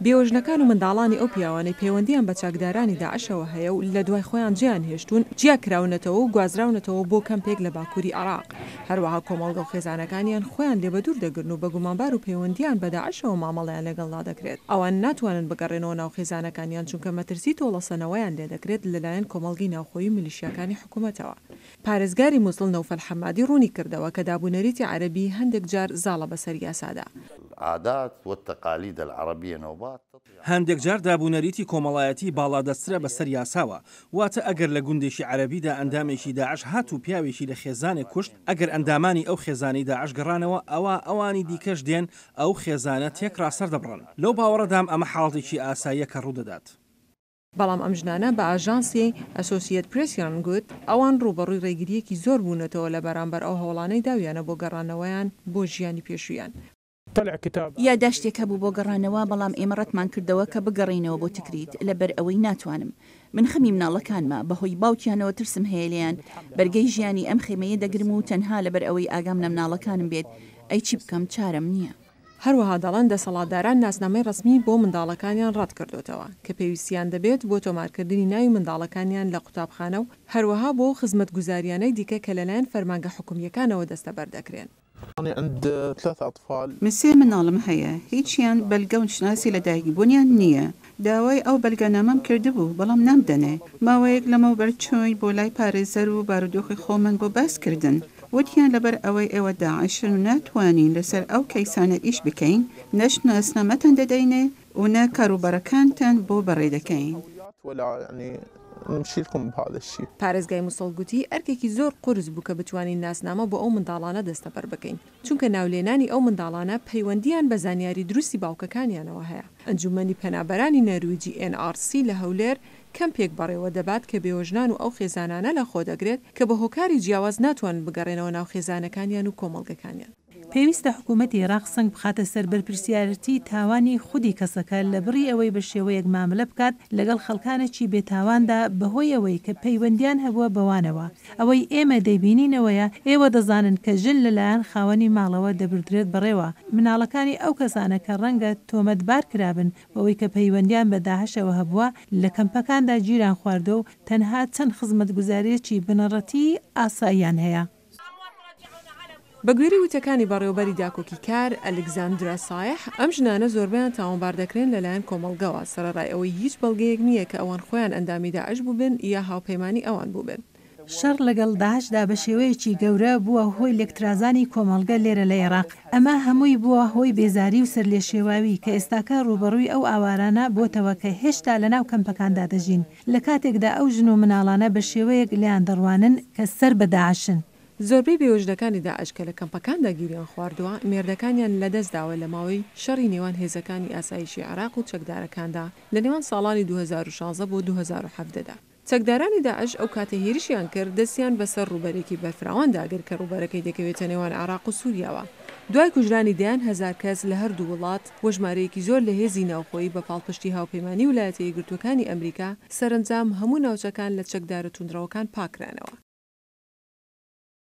بێوەژنەکان و منداڵانی ئەو پیاوانەی پەیوەندییان بە چەکدارانی داعشەوە هەیە و لە دوای خۆیان جێیان هێشتوون، جیا کراونەتەوە و گوازراونەتەوە بۆ کەمپێک لە باکووری عێراق. هەروەها کۆمەڵگە و خێزانەکانیان خۆیان لێ بەدوور دەگرن و بە گومانبار و پەیوەندییان بە داعشەوە مامەڵەیان لەگەڵدا دەکرێت. ئەوان ناتوانن بگەڕێنەوە ناو خێزانەکانیان چونکە مەترسی تۆڵەسەنەوەیان لێ دەکرێت لەلایەن کۆمەڵگەی ناوخۆیی و میلیشیاکانی حکوومەتەوە. پارێزگاری موسڵ نەوفەل حەمادی ڕوونی کردەوە کە داب و نەریتی عەرەبی هەندێک جار زاڵە بەسەر یاسادا. العادات والتقاليد العربية نوبات تطغى على هەندێک جار داب و نەریتی کۆمەڵایەتی باڵادەستترە بەسەر یاساوە، واتە ئەگەر لە گوندێکی عەرەبیدا ئەندامێکی داعش هات و پیاوێکی لە خێزانێک کوشت، ئەگەر ئەندامانی ئەو خێزانەی داعش گەڕانەوە ئەوا ئەوانی دیکەش دێن ئەو خێزانە تێکڕا سەردەبڕن. لەو باوەڕەدام ئەمە حاڵەتێکی ئاساییە کە ڕوودەدات. بەڵام ئەم ژنانە بە ئاژانسی ئەسۆسیەت پرێسیان گوت، ئەوان ڕووبەڕووی ڕێگرییەکی زۆر بوونەتەوە لە بەرامبەر ئەو هەوڵانەی داویانە بۆ گەڕانەوەیان بۆ ژیانی پێشوویان. یاداشتێک هەبوو بۆ گەڕانەوە، بەڵام ئێمە ڕەتمان کردەوە کە بگەڕێینەوە بۆ تکریت، لەبەر ئەوەی ناتوانم. من خەمی مناڵەکانمە، بەهۆی باوکیانەوە ترسم هەیە لێیان، بەرگەی ژیانی ئەم خێمەیە دەگرم و تەنها لەبەر ئەوەی ئاگام لە مناڵەکانم بێت، ئەی چی بکەم، چارەم نییە. هەروەها دەڵێن دەسەڵاتداران ناسنامەی ڕەسمی بۆ منداڵەکانیان ڕەتکردۆتەوە کە پێویستیان دەبێت بۆ تۆمارکردنی ناوی منداڵەکانیان لە قوتابخانە و هەروەها بۆ خزمەتگوزاریانەی دیکە کە لەلایەن فەرمانگە حکومییەکانەوە دەستەبەر دەکرێن. من سێ منداڵم هەیە هیچیان بەلگە و نشناسی لەدایکبونیان نییە داوای ئەو بەلگەنامەم کردبوو بەڵام نامدەنێ، ماوەیەک لەمەوبەر چووین بۆ لای پارێزەر و بارودۆخی خۆمان بۆ باس کردن وتیان لەبەر ئەوەی ئێوە داعشن و ناتوانین لەسەر ئەو کەیسانە ئیش بکەین نە شناسنامەتان دەدەینێ و نە کاروبارەکانتان بۆ بەڕێ دەکەین. پارێزگای موسڵ گوتی ئەرکێکی زۆر قورس بوو کە بتوانین ناسنامە بۆ ئەو منداڵانە دەستەبەر بکەین. چونکە ناولێنانی ئەو منداڵانە پەیوەندییان بە زانیاری دروستی باوکەکانیانەوە هەیە. ئەنجومەنی پەنابەرانی نەرویجی، NRC، لە هەولێر کەمپێک بەڕێوەدەبات کە بێوەژنان و ئەو خێزانانە لەخۆدەگرێت کە بە هۆکاری جیاواز ناتوانن بگەڕێنەوە ناو خێزانەکانیان و کۆمەڵگەکانیان. پێویستە حکومەتی عێراق سەنگ بخاتە سەر بەرپرسیارێتی تاوانی خودی کەسەکە لە بڕی ئەوەی بە شێوەیەک مامەلە بکات لەگەڵ خەڵکانێکی بێتاواندا بەهۆی ئەوەی کە پەیوەندییان هەبووە بەوانەوە، ئەوەی ئێمە دەیبینینەوەیە، ئێوە دەزانن کە ژن لەلایەن خاوەنی ماڵەوە دەبردرێت بەڕێوە، مناڵەکانی ئەو کەسانە کە ڕەنگە تۆمەتبار کرابن بەوەی کە پەیوەندیان بە داعشەوە هەبووە، لە کەمپەکاندا گیران خواردووە و تەنها چەند خزمەتگوزارییەکی بنەڕەتیی ئاساییان هەیە. بە گوێرەی وتەکانی بەڕێوەبەری داکۆکیکار، ئەلکزاندرا سایح، ئەم ژنانە زۆربەیان تاوانبار دەکرێن لەلایەن کۆمەڵگەوە، سەرەڕای ئەوەی هیچ بەڵگەیەک نییە کە ئەوان خۆیان ئەندامی داعش بووبن یا هاوپەیمانی ئەوان بووبن. شەڕ لەگەڵ داعشدا بە شێوەیەکی گەورە بووە هۆی لێکترازانی کۆمەڵگە لێرە لە ئێراق. ئەمە هەمووی بووە هۆی بێزاری و سەرلێشێواوی کە ئێستاکە ڕووبەڕووی ئەو ئاوارانە بۆتەوە کە هێشتا لەناو کەمپەکاندا دەژین، لە کاتێکدا ئەو ژن و مناڵانە بە شێوەیەک لێیان دەڕوانن کە سەر بە داعشن. زۆربەی بێوەژنەکانی داعش کە لە کەمپەکاندا گیریان خواردووە، مێردەکانیان لەدەست داوە لە ماوەی شەڕی نێوان هێزەکانی ئاسایشی عێراق و چەکدارەکاندا لە نێوان ساڵانی دوو هەزار و شازدە بۆ دوو هەزار و حەڤدە دا. چەکدارانی داعش ئەو کاتەی هێرشیان کرد، دەستیان بە سەر ڕووبەرێکی بەرفراوان دا گرت کە ڕووبەرەکەی دەکەوێتە نێوان عێراق و سووریاوە. دوای کوژرانی دەیان هەزار کەس لە هەردوو وڵات، و ژمارەیەکی زۆر لە هێزی ناوخۆیی بە پاڵپشتی هاوپەیمانی ولایەتە یەکگرتووەکانی ئەمریکا، سەرەنجام هەموو ناوچەکان لە چەکدارە توندڕەوەکان پاککرانەوە.